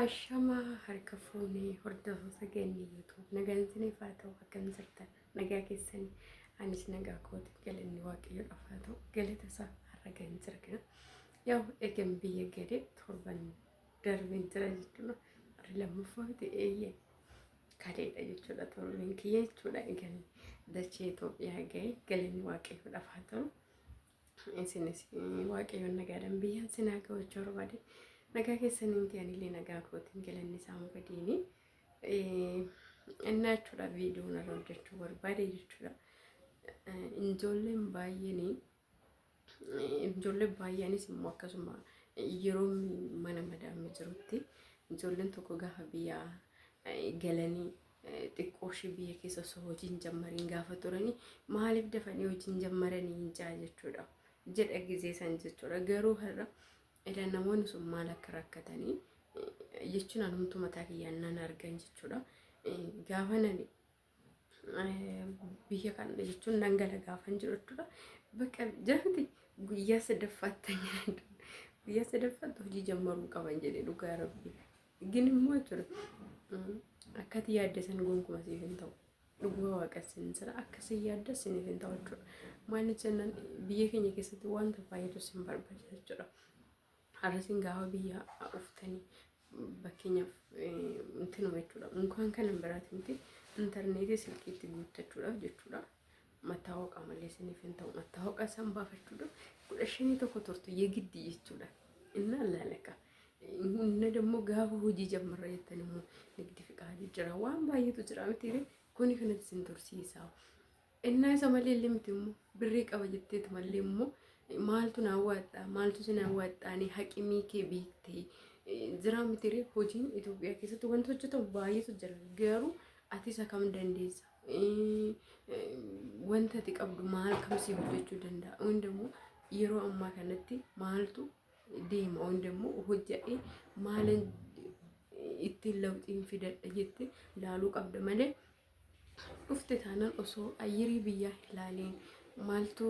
Ashama harka fuunee hordoftoota keenya YouTube nagaan isiniif haa ta'u akkam jirtan nagaa keessan anis nagaa kooti galanni waaqayyo dhafaa ta'u galata isaa har'a kan jirgina yaa egan biyya gade torban darbeen jira jechuudha warri lammaffaa miti eeyyee kadeedha jechuudha torban kiyya jechuudha egan dachee Itoophiyaa ga'e galanni waaqayyo dhafaa ta'u Isinis waaqayyoon nagaadhaan biyyaan sin haa ga'u jechuu barbaade. Nagaa keessaniin ta'an illee nagaa kootiin galanni isaa hin badiini. Innaa jechuudha viidiyoo irra hojjechuu barbaade jechuudha. Ijoolleen baay'een ijoolleen baay'eenis immoo akkasuma yeroo mana madaamii jirutti ijoolleen tokko gaafa biyyaa galanii xiqqoo ishee biyya keessa osoo hojii hin jammariin gaafa turanii maaliif dafanii hojii hin jammaranii hin jaa jechuudha jedha gizee san jechuudha garuu har'a ila namoonni sun maal akka rakkatanii jechuun anumtu mataa kiyyaan nan argan jechuudha gaafa nani biyya kana jechuun nan gala gaafan jiru jechuudha bakka jirti guyyaa sadaffaatti guyyaa sadaffaatti hojii jammaruu qaban jedhe dhugaa rabbii. Gin immoo jechuudha akkati yaadde san gonkumaa siif hin ta'u. Dhuguma waaqa sin sira akka sin yaadda siniif hin ta'u jechuudha. Maaliif jennaan biyya keenya keessatti wanta baay'eetu sin barbaachisa jechuudha. Har'a sin gaafa biyya uftanii fakkeenyaaf intinuma jechuudha. Mukaan kana biraati miti intarneetii silkiitti guuttachuudhaaf jechuudha. Mattaawoqaa malee isiniif hin ta'u. Mattaawoqaa isaan baafachuudhaaf kudha shanii tokko turtu yegiddii jechuudha. Innaa laalaka. Inna dammoo gaafa hojii jammarra jettan immoo nigdi fiqaadii jira. Waan baay'eetu jira miti ree. Kuni kanatti isin tursiisaa. Innaa isa malee illee miti immoo birrii qaba jetteeti malee immoo maaltu naa waadhaa maaltu si naa waadhaanii haqimii kee beektee jiraa miti ree. Hojiin Itoophiyaa keessatti wanti hojjetamu baay'eetu jira. Garuu ati isa kam dandeessa? wanta ati qabdu maal kamsii hojjechuu danda'a wanta immoo yeroo ammaa kanatti maaltu deema wanta immoo hojjadhee maalan ittiin lawxiin fidadha jette laaluu qabda malee dhufte taanaan osoo ayyirii biyyaa hin laaliin maaltu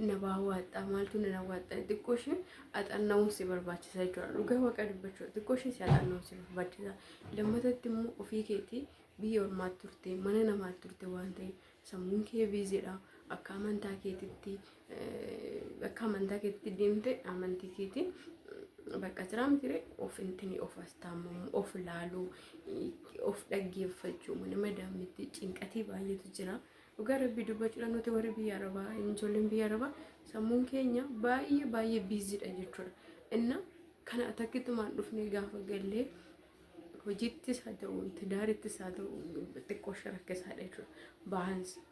na baawwaadha maaltu na daawwaadha xiqqoo ishee axanna'uun si barbaachisa jechuudha dhugaa waaqa dubbachuu xiqqoo ishee si axanna'uun si barbaachisa lammatatti immoo ofii keetii biyya ormaatti turte mana namaatti turte waan ta'eef sammuun kee biizidha akka amantaa keetitti akka amantaa keetitti deemte amantii keetiin bakka jiraa mitiire of intini of astaamamu of laaluu of dhaggeeffachuu mana madaamitti cinqatii baay'eetu jira dhugaa rabbii dubbachuudhaan nuti warri biyya arabaa ijoolleen biyya arabaa sammuun keenya baay'ee baay'ee biizidha jechuudha inna kana takkitti maan dhufne gaafa gallee Hojiittis haa ta'u, tidaarittis haa ta'u, xiqqoo ishee rakkisaadha jechuudha. Baansi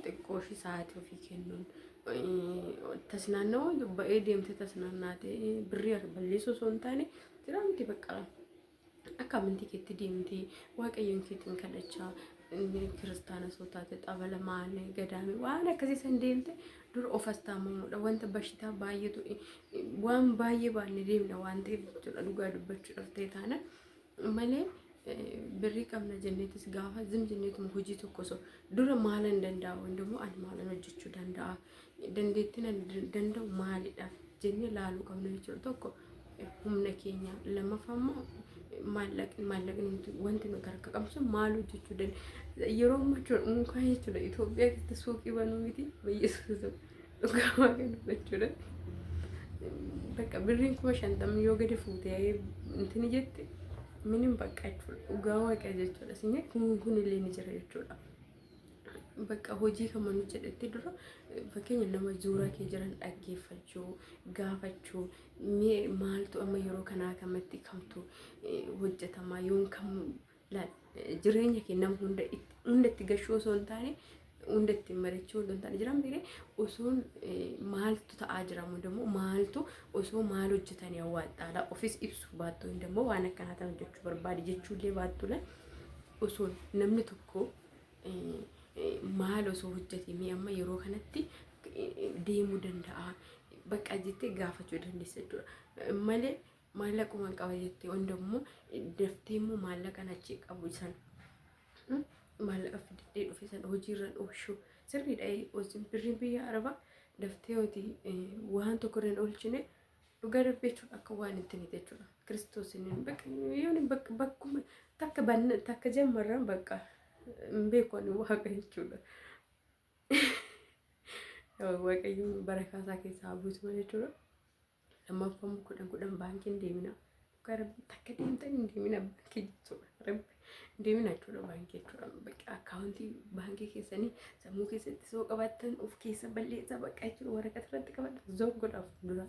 xiqqoo ishee sa'aatii ofii kennuun tas naannawaa ba'ee deemtee tas naannaatee birrii balleessuu osoo hin taane jiraamti bakka akka amantii keetti deemtee waaqayyoon keetiin kadhachaa inni kiristaana soo taate xabala maali gadaami waan akkasii san deemte dur of astaamamuudha wanta bashitaa baay'eetu waan baay'ee baannee deemna waan ta'eef jechuudha dhugaa dubbachuudhaaf ta'e taana malee birrii qabna jenneetis gaafa zim jenneetuma hojii tokko osoo dura maalan danda'a hundumuu ani maalan hojjechuu danda'a dandeettiin ani danda'u maalidha jennee laaluu qabna jechuudha tokko humna keenya lammaffaa immoo maallaqni maallaqni nuti wanti nuti harka qabnu sun maal hojjechuu danda'a yeroo ammaa jechuudha mukaa jechuudha Itoophiyaa keessatti suuqii banuu miti bayyisuus dhugaa waaqaa dubbachuudha. Bakka birriin kuma shantamni yoo gadi fuutee intini jette minim bakka jechuudha dhugaa waaqaa jechuudha sinni kun kun illee ni jira jechuudha. Bakka hojii kan manu jedhetti dura fakkeenya nama zuura kee jiran dhaggeeffachuu, gaafachuu, mee maaltu amma yeroo kanaa kamatti kamtu hojjetamaa yoon kam jireenya kee nama hunda hunda itti gashuu osoo hin taane hunda ittiin mari'achuu osoo hin taane jiran beekne osoo maaltu ta'aa jira immoo maaltu osoo maal hojjetanii awwaadhaala ofis ibsu baattu hundammoo waan akkanaa ta'an jechuu barbaade jechuullee baattuudha. osoon namni tokko maal osoo hojjete mee amma yeroo kanatti deemuu danda'a bakka jettee gaafachuu dandeessa jechuudha. Malee maallaquma hin qaba jettee hunda immoo daftee immoo maallaqan achi qabu san maallaqa fidee dhufe san hojiirran oolchuu sirriidha. Birriin biyya arabaa daftee hojii waan tokko irra hin oolchine Dhugaa rabbi jechuun akka waan hin tine jechuudha. Kiristoosiin hin bakka yoon bakka bakkuma takka banna takka jammarran bakka hin beeku ani waaqa jechuudha. Waaqayyoon bara kaasaa keessaa haa buusu jechuudha. Lammaffaan kudhan kudhan baankiin deemina. dhugaa rabbi takka deemtan hin deemina baankii jechuudha rabbi hin deemina jechuudha baankii jechuudha bakka akkaawuntii baankii keessanii sammuu keessatti soo qabaattan of keessa balleessaa bakka jechuudha waraqaa irratti qabadha zor godhaaf dura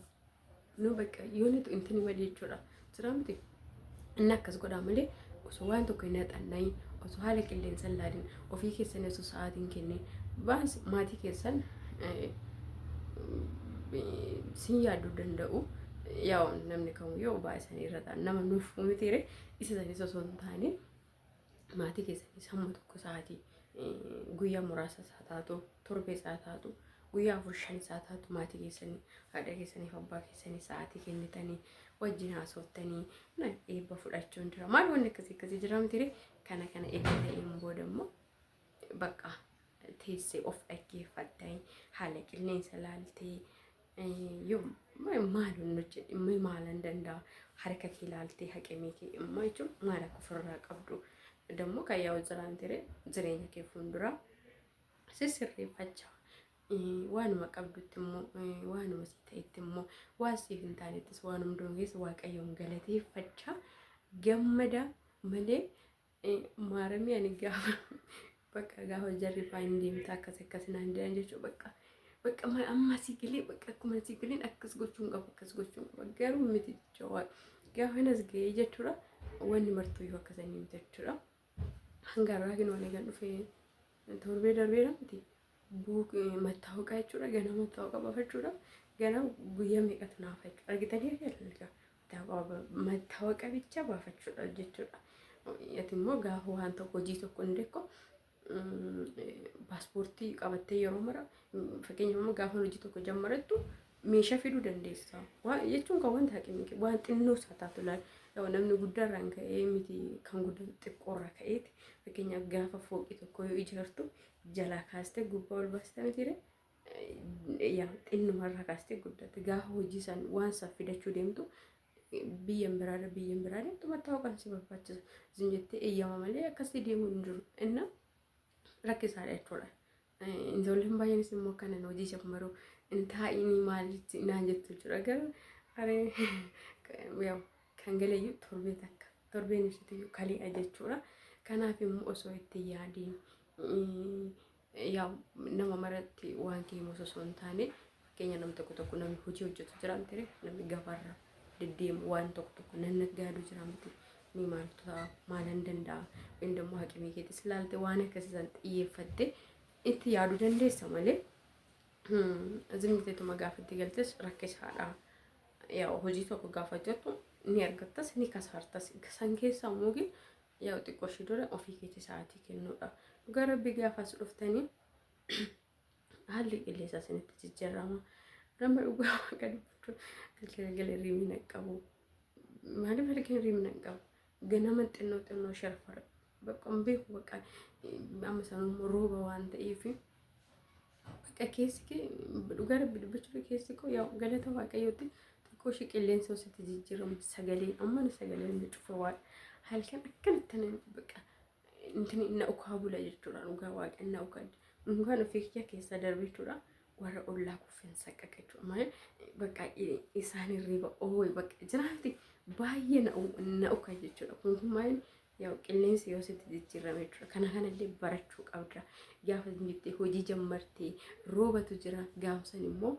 nu bakka yoo nutu intini badii jechuudha jira miti inni akkas godhaa malee osoo waan tokko hin haxannayin osoo haala qilleensa hin laadin ofii keessan osoo sa'aatiin kennee baas maatii keessan sin yaaduu danda'u. Yaa namni kamuu yoo baay'ee isaanii irra ta'an nama nuuf mitiire isa isaaniis osoo hin taane maatii keessanii sammuu tokko sa'aatii guyyaa muraasa isaa taatu torbee isaa taatu guyyaa afur shan isaa taatu maatii keessanii haadha keessaniif abbaa keessanii sa'aatii kennitanii wajjin haasoftanii eebba fudhachuun jira maal wanni akkasii akkasii jira mitiire Kana kana erga ta'een booda immoo bakka teessee of dhaggeeffattee haala qilleensa laaltee yoo maaluun hojjedhe immoo maalan danda'a harka kee laaltee haqamee kee immoo jechuun maal akka ofirraa qabdu dammoo kan yaa'u jiraan ture jireenya kee fuulduraa sissirreeffachaa waanuma qabdutti immoo waanuma si ta'etti immoo waan siif hin taanettis waan hunduun keessa waaqayyoon galateeffachaa gammadaa malee eh, maaramii ani gaafa bakka gaafa jarri faa hin deemta akkas akkas naan jedhan jechuu bakka bakka ma- amma asii galee bakka akkuma asii galeen akkas gochuun qabu akkas gochuun qaba garuu miti jecha waa gaafa hin as ga'ee jechuudha wanni martuu yoo akkasanii miti jechuudha hanga har'aa kan waliin kan dhufee torbee darbeera miti buuk mattaawaqaa jechuudha ganaa mattaawaqaa bafachuudha ganaa guyyaa meeqatu naafa jechuudha argitanii argaa mattawaqa bicha baafachuudha jechuudha. Ati immoo gaafa waan tokko hojii tokko hin beeku paaspoortii qabattee yeroo mara fakkeenyaaf amma gaafa hojii tokko jammarattu meeshaa fiduu dandeessa. Jechuun kan wanta haqi miti waan xinnoo isaa taatu laal namni guddaarraan ka'ee miti kan guddaan xiqqoorraa ka'eeti fakkeenyaaf gaafa fooqii tokko yoo ijaartu jalaa kaastee gubbaa ol baastaa miti yaa xinnuma irraa kaastee guddatte gaafa hojii san waan san fidachuu deemtu biyyan biraarra biyyan biraa deemtu mattaa'uu kan si barbaachisa isin jettee eeyyama malee akkasii deemuu hin jiru inna rakkisaadha jechuudha. Ijoolleen baay'eenis immoo kanan hojii ishee maruu hin taa'inii maal jetti naan jettu jira garuu aree yaa'u kan galeeyyuu torbee takka torbeen ibsitiyyuu kaleedha jechuudha. Kanaaf immoo osoo itti yaadiin yaa nama maratti wanti himus osoo hin taane fakkeenya nam tokko tokko namni hojii hojjetu jira miti ree namni gabaarra deddeemu waan tokko tokko nan natti yaadu jira miti ni maal ta'a maalan danda'a inni immoo haqimii keetis ilaalte waan akkasiisan xiyyeeffatte itti yaadu dandeessa malee zimiteetuma gaafa itti galtes rakkisaadha. Yaa hojii tokko gaafa jettu ni argattas ni kasaartas san keessaa immoo Yaa'u xiqqoo ishii dura ofii keetii sa'aatii kennuudha. Dhugaa rabbi gaafa as dhuftanii haalli qilleensa isinitti jijjiirama. Nama dhugaa waaqa dubbachuu galgala gala riimina qabu. Maaliif halkan riimina qabu? Ganama xinnoo xinnoo sharfara. Bakka hin beeku bakka amma sanuu rooba waan ta'eef. Bakka keessi kee dhugaa rabbi dubbachuudha keessi koo yaa galata waaqayyooti xiqqoo ishee qilleensa hositti jijjiiramu sagalee amma na sagalee na cufa waan halkan akkanatti na baqa intini na ukaa bula jechuudha dhugaa waaqan na ukaa dhugaan ofii kiyya keessaa darbe jechuudha warra ollaa kuffeen saqqaqa jechuudha malee bakka isaan hirriba ooyi bakka jiraatti baay'ee na ukaa jechuudha kun kun maaliin Yaa'u qilleensi yoo sitti jijjiirame jechuudha. Kana kanallee barachuu qabda. Gaafa jettee hojii jammartee roobatu jira. Gaafsan immoo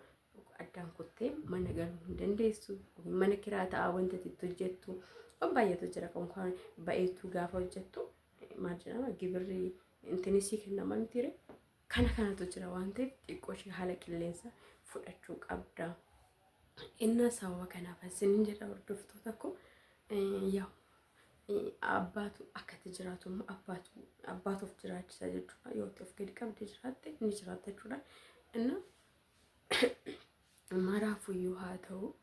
addaan kuttee mana galuu hin dandeessu. Mana kiraa ta'a wanta itti hojjettu. Waan baay'eetu jira. Konkaan ba'eetu gaafa hojjettu maal jedhama gibirri intinisii kennama mitiire kana kanatu jira waan ta'eef xiqqoo ishee haala qilleensa fudhachuu qabda. Innaa sababa kanaaf isin jedha hordoftoota koo yaa abbaatu akkatti jiraatu immoo abbaatu abbaatu of jiraachisa jechuudha yoo itti of gadi qabdee jiraatte ni jiraata jechuudha. Innaa maraafuyyuu haa ta'u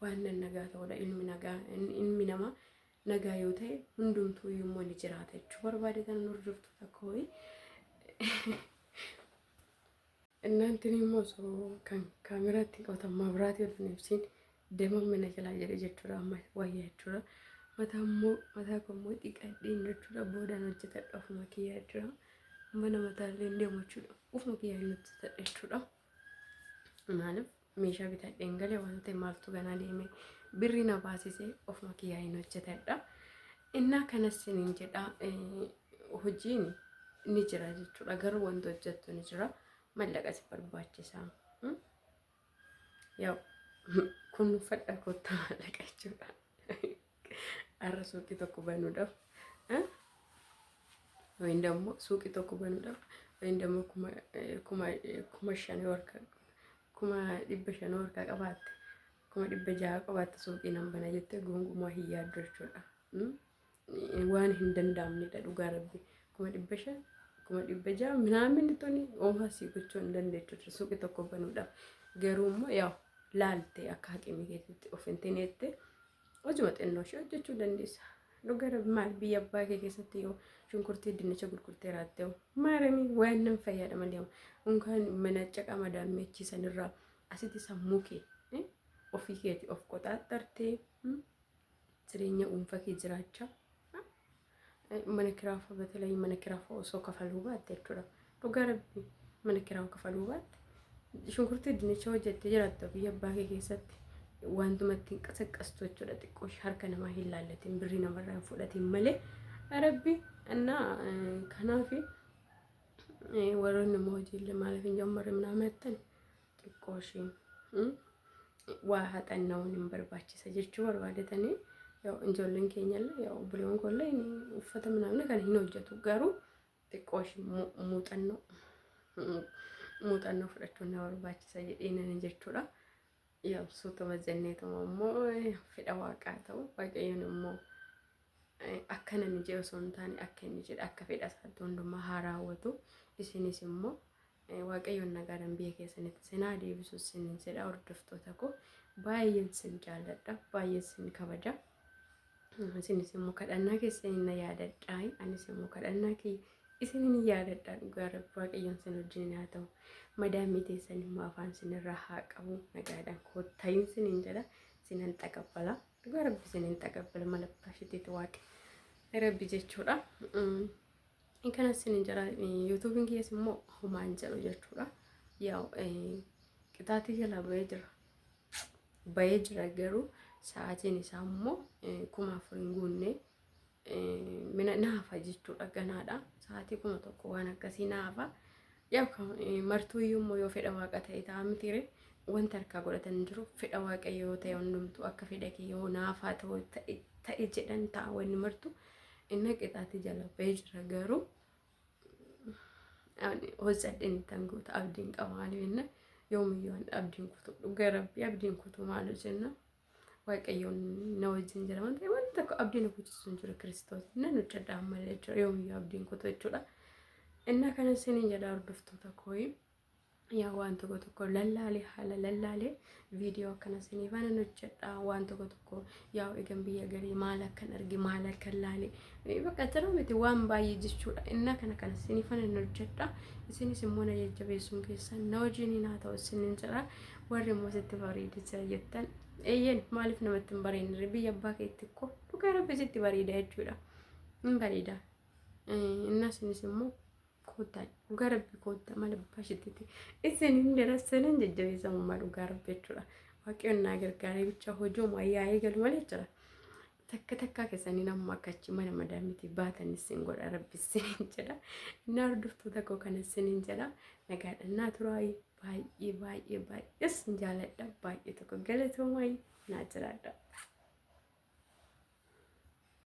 waan nagaa ta'udha ilmi nagaa ilmi namaa nagaa yoo ta'e hundumtuu iyyuu immoo ni jiraata jechuu barbaade kan hordoftoota kooyi. Innaantiin immoo osoo kan kaameraatti qotammaa biraatii ol hin ibsiin deeman mana jalaa jedhe jechuudha amma wayya jechuudha. Mataa immoo mataa koo immoo dhiqadheen jechuudha boodaan hojjetadha ofuma kiyyaa jira. Mana mataa illee deemu jechuudha ofuma kiyyaa hin hojjetadha jechuudha. Maaliif meeshaa bitadheen gale waan ta'e maaltu ganaa deeme birri na baasise ofuma kiyyaa hin hojjetadha. Innaa kanas sinin jedha hojiin ni jira jechuudha garuu wanti hojjettu ni jira mallaqa si barbaachisa. Yaa'u kunuunfadha kottaa mallaqa jechuudha. Arra suuqii tokko banuudhaaf. Wayin dammo suuqii tokko banuudhaaf. Wayin dammo kuma kuma kuma shan warka kuma dhibba shan warka qabaatte. Kuma dhibba jaha qabaatte suuqii nan bana jettee gonkumaa hin yaaddu jechuudha. Waan hin danda'amnedha dhugaa rabbi. Kuma dhibba shan kuma dhibba jaha minaamin tuni oomaa sii gochuu hin dandeettu suuqii tokko banuudhaaf. Garuu immoo yaa laalte akka haqimii keessatti of hin tineette. Hojuma xinnoo ishee hojjechuu dandeessa. Dhuga rabbi maal biyya abbaa kee keessatti yoo shunkurtii dinnicha gurgurtee raatte hoo maaramii waan nan fayyada malee hoo unkaan mana caqaa madaan meechii sanirraa asitti sammuu kee eh, ofii keeti of qoxaaxxartee hmm, jireenya dhuunfaa kee jiraachaa mana kiraafa batalai mana kiraafa osoo kafaluu baatte jechuudha. Dhugaa rabbi mana kiraa kafaluu baatte. Shunkurtii dinnicha hojjette jiraatta biyya abbaa kee keessatti wantuma ittiin qasaqqastu jechuudha. Xiqqoo harka namaa hin laallatiin birrii namarraa hin fudhatiin malee rabbi annaa kanaafi warroonni immoo hojiillee maaliif hin jammarre minaa meettan xiqqoo ishiin hmm? waa haxanna'uun hin barbaachisa jechuu barbaadetanii yoo ijoolleen keenyallee yoo obboleewwan koollee hin- uffata minaamne kana hin hojjetu garuu xiqqoo ishii mu- muuxannoo muuxannoo fudhachuun na barbaachisa jedheenani jechuudha. Yaabsuutuma jenneetuma immoo fedha waaqaa ta'u waaqayyoon immoo Akka namni jedhe osoo hin taane akka inni jedhe akka fedha isaatti hundumaa haa raawwatu. Isinis immoo waaqayyoon nagaadhaan biyya keessanitti sinaa deebisu sin jedha hordoftoota koo baay'een sin jaalladha baay'een sin kabaja. Isinis immoo kadhannaa keessan hin yaadadhaa anis immoo kadhannaa kee isin hin yaadadhaa dhugaa rabbi waaqayyoon sin wajjin haa ta'u. Madaamii teessan immoo afaan sinirraa haa qabu nagaadhaan koottayin sin hin jedha sinan xaqabbala. Dhugaa rabbi isin hin xagabbala mala baashitiiti waaqi rabbi jechuudha. Kana isin hin jira yuutuubiin kiyyaas immoo homaan jedhu jechuudha. Yaa qixaatii jala bahee jira. Bahee jira garuu sa'aatiin isaa immoo kuma afur hin guunne mina naafa jechuudha ganaadha sa'aatii kuma tokko waan akkasii naafa yaa martuu iyyuu immoo yoo fedha waaqa ta'e ta'a mitiire wanta harkaa godhatan jiru fedha waaqa yoo ta'e hundumtu akka fedha kee yoo naafaa ta'u ta'e jedhan ta'a wanni martu inni qixaati jala ba'ee jira garuu hojjadheen tan guuta abdiin qaba maaliif inni yoomiyyuu abdiin kutu dhugaa rabbii abdiin kutu maal jenna. Waaqayyoon na wajjin jira waan ta'eef wanti tokko abdii na kuchisu hin jiru Kiristoos. Nan hojjedha ammallee jechuudha yoomiyyuu abdiin kutu jechuudha. Innaa kana isiniin jedha hordoftoota kooyi. Yaa waan tokko tokko lallaalee haala lallaalee viidiyoo akkana isiniif anan hojjedha waan tokko tokko yaa egan biyya galee maal akkan arge maal akkan laale Bakka jira miti waan baay'ee jechuudha. Innaa kana kana isin fana hin hojjedha. Isinis immoo na jajjabeessuun keessan na wajjin haa ta'u isin hin jira. Warri immoo sitti bareedee jira jettan. Eeyyeen maaliif namatti hin bareedne biyya abbaa keetti koo dhugaa rabbi sitti bareeda jechuudha. Hin bareeda. Innaa isinis immoo koottaa dhugaa rabbi koottaa maal abbaa isheetti isin hin jira sanan jajjabeessa ummaa dhugaa rabbi jechuudha. Waaqayyoon naa gargaaree bicha hojii ummaa yaa eegalu malee jira. takka takkaa keessanii namuma akka achi mana madaamitii baatan isin godha rabbi isiniin jedha inni hordoftuu tokko kana isiniin jedha nagaadhaan naa turaayi baay'ee baay'ee baay'ee isin jaaladha baay'ee tokko galatoomayi naa jiraadha.